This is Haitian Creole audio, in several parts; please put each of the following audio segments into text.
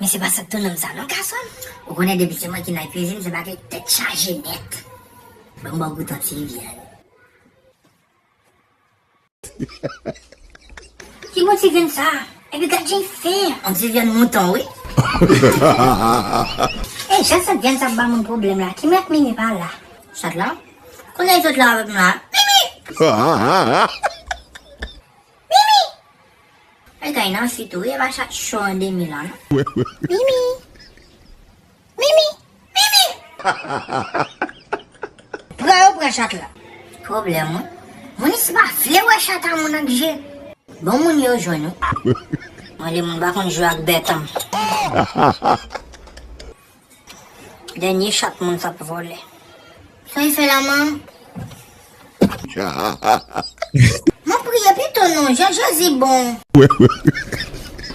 Men se pa sak tou nonm sa non gasonm. Ou konnen depi se mwen ki nan kwizin se bagay tèt chaje nèt. Banm baw gou tant Viviane. Ki mo ti grenn sa? Epi gad jan li fen. On ti vyann mouton wi. Ey jan sant vyann sa ap ba moun pwoblèm la. Kim ak Mimi pa la. Sant lan? Konnen li sot la avèk m la. Mimi! Mimi! Mwen gen nan si tou, Eva chat cho an demi la non. Mimi! Mimi! Mimi! Pran yo pran chat la. Pwoblèm wi. Moun isi pa vle wè chat a moun ak je. Bon moun yo jwenn ou. Mwen de moun pa konn jwe ak bèt an. Dènye chat moun sa p vole. Sa e fè la man. Map priye pito non jan jezi bon.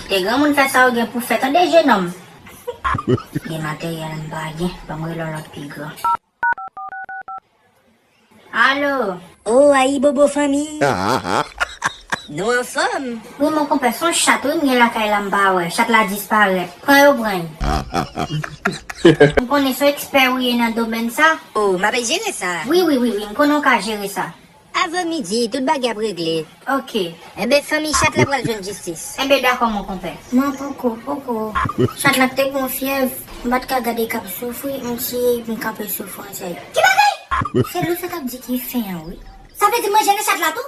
Te granmoun fè sa ou gen pou fè tande jenòm. Gen materyèl m pa gen banm rele yon lòt pi gran. Allo! Oh ayibobo fanmi! Nou anfòm? Wi mon konpè son chat wi m gen lakay la m pa wè, chat la disparèt. Pran yo pran l. M konnen son ekspè ou ye nan domèn sa. Oh m ape jere sa. Wi wi wi wi m konnen w ka jere sa. Avan midi tout bagay ap regle. Ok. Enben fanmiy chat la pral jwenn jistis. Enben dakò mon konpè. Mwen poko poko. Chat la te gon fyèv. M pat ka gade kap soufri m siye m kanpe sou fwontyè yo. Ki bagay? Se lou sa kap di ki fen an wi. Sa vle di mwen jene chat la tou?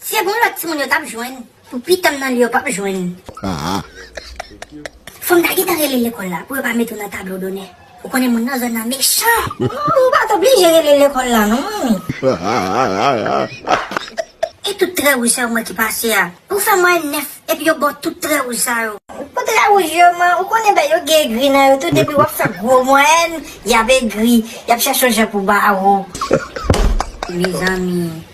Se bon lot timoun yo tap jwenn. Pou pitanm nan li yo pap jwenn. Fom ta gentan rele lekol la pou yo pa mete w nan tablo donè. Ou konnen moun nan zòn nan mechan. Ou pat oblije rele lekol la non manmi. E tout trè wouj sa yo mwen ki pase a. Ou fè mwayèn 9 epi yo baw tout trè wouj sa yo. Pou trè wouj yo man ou konnen bèy yo gen egri nan yo tou depi wap fè gwo mwayèn yap egri yap chèche yon jan pou ba wou. Mezanmi.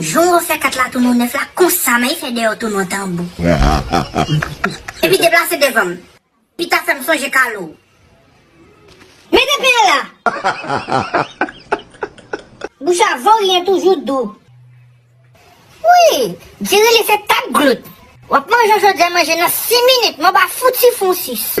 Jan w refè kat la tounen w nèf la konsa men efè deyò w tounen w tanbou. Epi deplase devan m. Pita fè m sonje Kalou. Mete pen an la! Bouch a voryen toujou dou. Wi! Di rele se tap glout. W ap manje yon chodyè manje nan 6 minit men w pa fouti fon 6.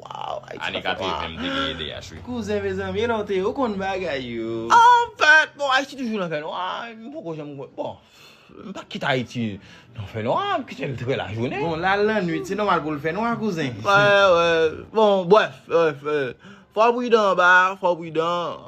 Waww Ayiti Ane pase lwa. 80 m te gen edh wi. Kouzen mezanmi e lè w te ye ou konn bagay yo. Anfèt bon Ayiti toujou nan fènwa m poko janm wè bon m pa kit Ayiti nan fènwa m kite l trè lajounen. Bon lal lannwit se nòmal pou l fènwa kouzen. Bon brèf fò w pridan anba fò w pridan.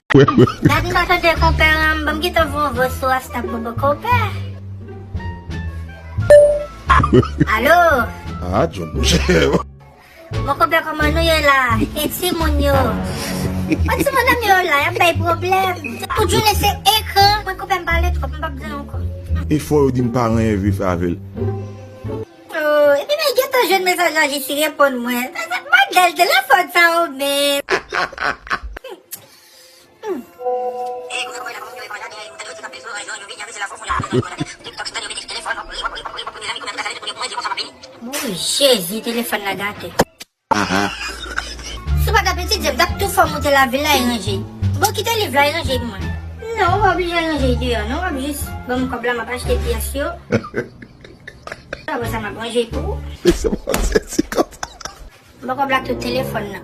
Dat m pa tande konpè lan m banm gita vo vo sou astabobo konpè Alo Ah John mouche Bon konpè koman nou ye la e ti moun yo Bon ti moun nan yo la yap bay pwoblèm tout jounen se ekran mwen konpè m pale twòp m pap di l ankò. Efò yo dim pa ranyen vye fè avèl. Ooh epi mwen gentan jwenn mesaj la jesi reponn mwen Madanl telefòn sa ou menm. Ooh jezi telefòn la gate. Si w pa ta pitit jan m tap tou fè w moute lavil la e ranje. Bon kite liv la e ranje pou mwen. Non ou pa oblije al ranje li deyò non wap jis ban m kòb la map achte pyès yo apre sa map ranje pou ou. Ban kòb la ak tout telefòn nan.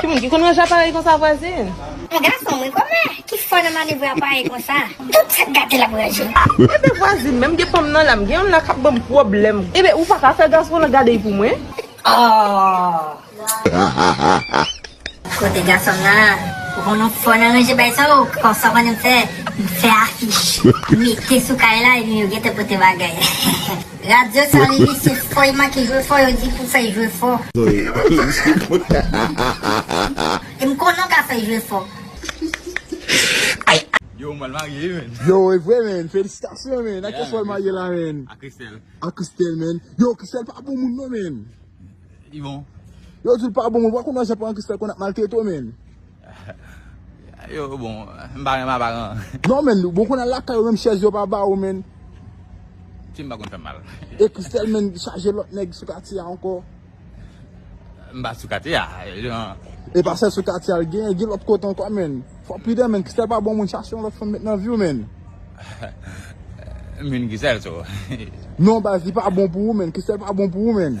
Ki moun ki konn ranje aparèy konsa vwazin. Yon gason mwen kòmè ki fò nan manevre aparèy konsa. Tout sak gate lap ranje. Ebe vwazin menm gen pam nan la m gen yon la kap banm pwoblèm. Ebe ou paka fè gason lan gadey pou mwen. Aww. Kote gason m nan. Ou konn ou fò nan ranje bay sa ou konn sa ou konnen m fè m fè afich. Mete sou kay la ebyen yo gentan pote bagay. Radio sa li di se fò li manke jwe fò yo di pou fè jwe fò. E m konnen w ka fè jwe fò. Yo ou mal marye wi menn. Yo evre menn felisitasyon menn ak keswal marye la menn. Ak Christelle. Ak Christelle menn. Yo Christelle pa bon moun non menn. Li bon. Yo dil pa bon moun ou pa konn jan paran Christelle konn ap maltrete w menn. Yo bon m pa renmen aparan. Non menn bon konn al lakay ou menm chèz yo pa ba ou menn. Tim pa konn fèm mal. E Christelle menn chaje lòt nèg sou katye a ankò. M pa sou katye a jan. E pa sèl sou katye a l gen gen lòt kote ankò menn. Fò pridan menn Christelle pa bon moun chache yon lòt fanm met nan viw menn. M vin Christelle so. Non baz li pa bon pou ou menn Christelle pa bon pou ou menn.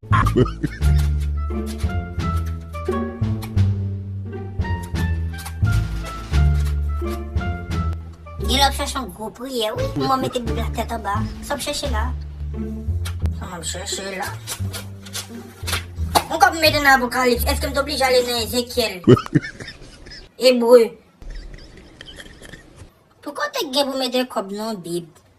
Gen lè w ap chèche yon gwo priyè wi pou mwen mete bib la tèt anba. Sa w ap chèche la? Sa m ap chèche la? Mwen kòm m mete nan Apokalips, èske m te oblije ale nan Ezekyèl? Ebre? Pou kote k gen pou mete kòb nan yon bib?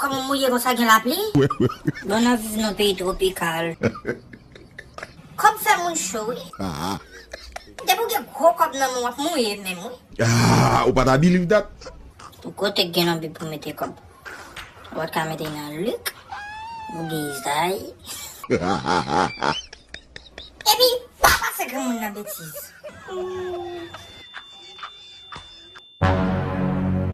Koman mouye konsa gen lapli. Bon nap viv nan peyi tropical. Kob fè moun cho wi. Depi ou gen gro kob nan menw wap mouye menm wi. Ou pa ta biliv dat. Pou kote gen nan bib pou mete kob. Ou pat ka mete nan lik. Ou gen izay. Epi pa pase granmoun nan betiz.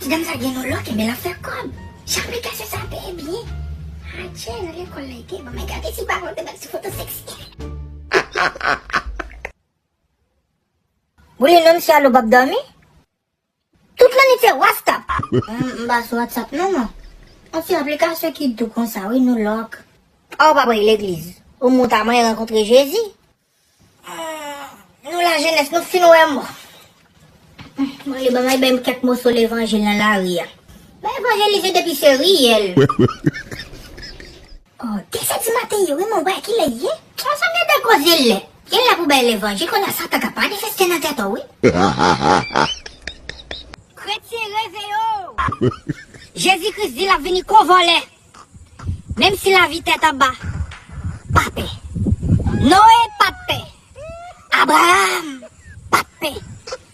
Ti dam sa gen yon lòk enben lap fè kòb. Jan aplikasyon sa peye byen. Adje nan lekòl la ete bon men gade ti bab antre nan ti foto seksi. Bruno msye al ou pap domi? Tout lane fè wastap. M pa sou WhatsApp non mwen. On ti aplikasyon ki dou konsa wi nou lòk. Ah ou pa pral legliz. Ou mou ta manyen rankontre Jezi. Nou la jenès nou fin wè mò. Mwen ale banm al banm kèk moso levanjil nan lari a. Mwen evanjelize depi se riyèl. Oh ki se ti maten ye wi mwen wè kilè li ye. Bon sa gen de koze lè gen lè pou bay levanjil konnya satan ka manifeste nan tèt ou wi. Kretyen reveye w! Jezi Kris di lap vini kon vòlè! Menm si lavi tèt anba, pa pè! Noe pat pè! Abraham pat pè!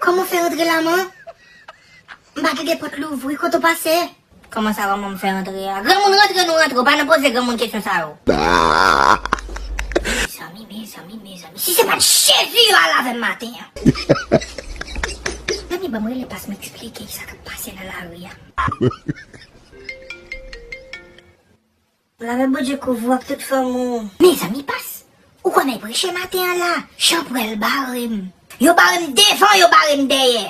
Koman fè antre la man? M pa kite pot louvri kote ou pase? Koman sa koman m fè antre a? Granmoun rantre nou rantre ou pa nan poze granmoun kesyon sa yo. Mezanmi mezanmi mezanmi si se pat jezi yo al avèm maten an. Mezanmi banm rele pas m esplike kisa kap pase nan lari a. Lame Bondye kouvri w ak tout fanmi w. Mezanmi pas. Ou konnen preche maten an la chanprèl barem. Yo barem devan yo barem dèyè.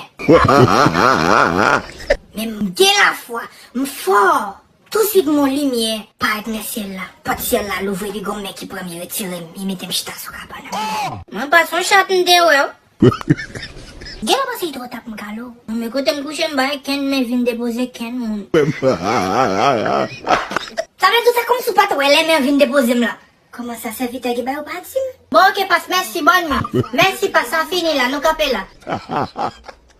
Men m gen lafwa. M fò. Touswit m wè yon limyè parèt nan syèl la. Pòt syèl la louvri epi gon men ki pran m li retire m li mete m chita sou kabann an. Mwen pas son chat m te wè w. Gen lè pase itro tap m kalo. Mwen me kote m kouche m pa wè kenn men vin depoze kenn moun. Sa vle di w fè kòmsi w pat wè lè men an vin depoze m la. Kòman sa sèvitè ki bay ou pa di m. Bon ok pas mèsi bonne nuit. Mèsi pas sa fini la nou kanpe la.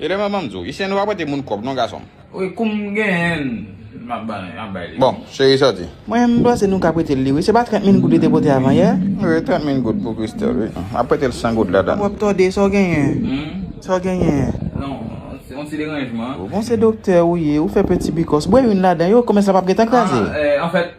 Rele mwen banm diw. Isyèn ou pa prete moun kòb non gasonm. Wi koum genyenl map bay li. Bon cheri sòti. Mwen menm m panse nou ka pretel li wi se pa 30 min goud li te pote avan yè? Wi 30 min goud pou Christelle wi map pretel 100 goud ladann. Papa wap tòde sa w genyen? Sa w genyen? Non yon ti deranjman. Bon se doktè ou ye ou fè peti bikòs bwè youn ladan yo komès la pap gentan kraze? Anfèt.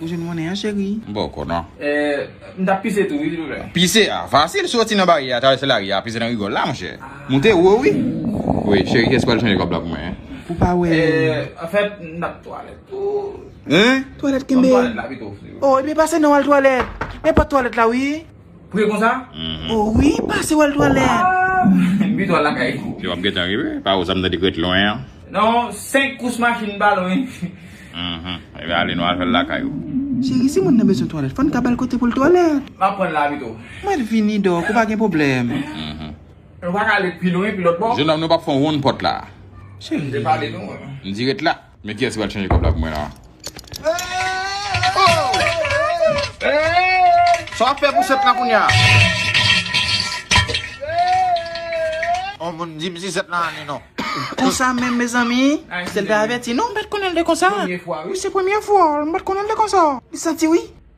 Ou jwenn monnen an cheri. M baw kò nan. Eh m tap pise tou wi silvouplè. Pise a fasil soti nan baryè a travèse lari a pise nan rigòl la monchè moute wo wi wi cheri kiyès ki pral chanje kòb la pou mwen pou pa wè eh anfèt m tap twalèt tou hein twalèt kenbe banm twalèt la pito oh ebyen pase non al twalèt e pòt twalèt la wi. Priye konsa? Oh wi pase wèl twalèt. M pi twal lakay kou. Yo ap gentan rive. Pa ou sa m tande kret lwen an. Non 5 kous machin pa lwen. Mph ebyen ale nou al fèl lakay ou. Cheri si moun nan bezwen twalèt fòn ka bal kote poul twalèt. Map pranl la pito. Mwen vini dok ou pa gen pwoblèm. Mph. Nou paka ale pi lwen pi lòt bò. Jenòm nou pap fon wonn pòt la. Cheri. M di ret la. Men kiyès ki pral chanje kòb la pou mwen la. Sa wap fè pou 7 lan kounya. On moun dim si 7 lan ane non. Konsa menm mezanmi, sèl te avèti non, m pat konnen l te konsa. Premye fwa wi. Wi se premye fwa, m pat konnen l te konsa. Li santi wi.